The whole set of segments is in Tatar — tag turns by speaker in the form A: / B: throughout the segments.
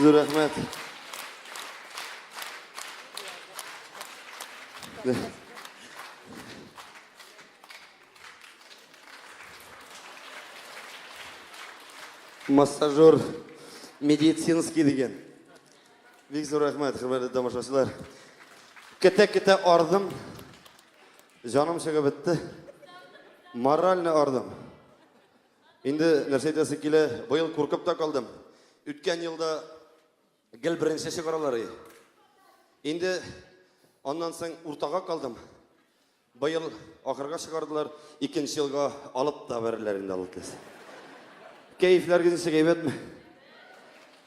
A: Зур рәхмәт. Массажер медицинский деген. Бик зур рәхмәт, хөрмәтле тамашачылар. Кете-кете ардым. Җаным чыгып бетте. Моральный ардым. Инде нәрсә әйтәсе килә, быел куркып та калдым. Үткән елда гел беренче чыгаралар и. Инде аннан соң уртага калдым. Быел ахырга чыгардылар, икенче елга алып та бәрерләр инде аллатес. Кәефләр генә әйбәтме?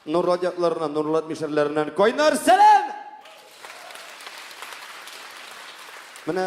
A: Нурлат ятларыннан, Нурлат мишәрләреннән кайнар сәлам! Менә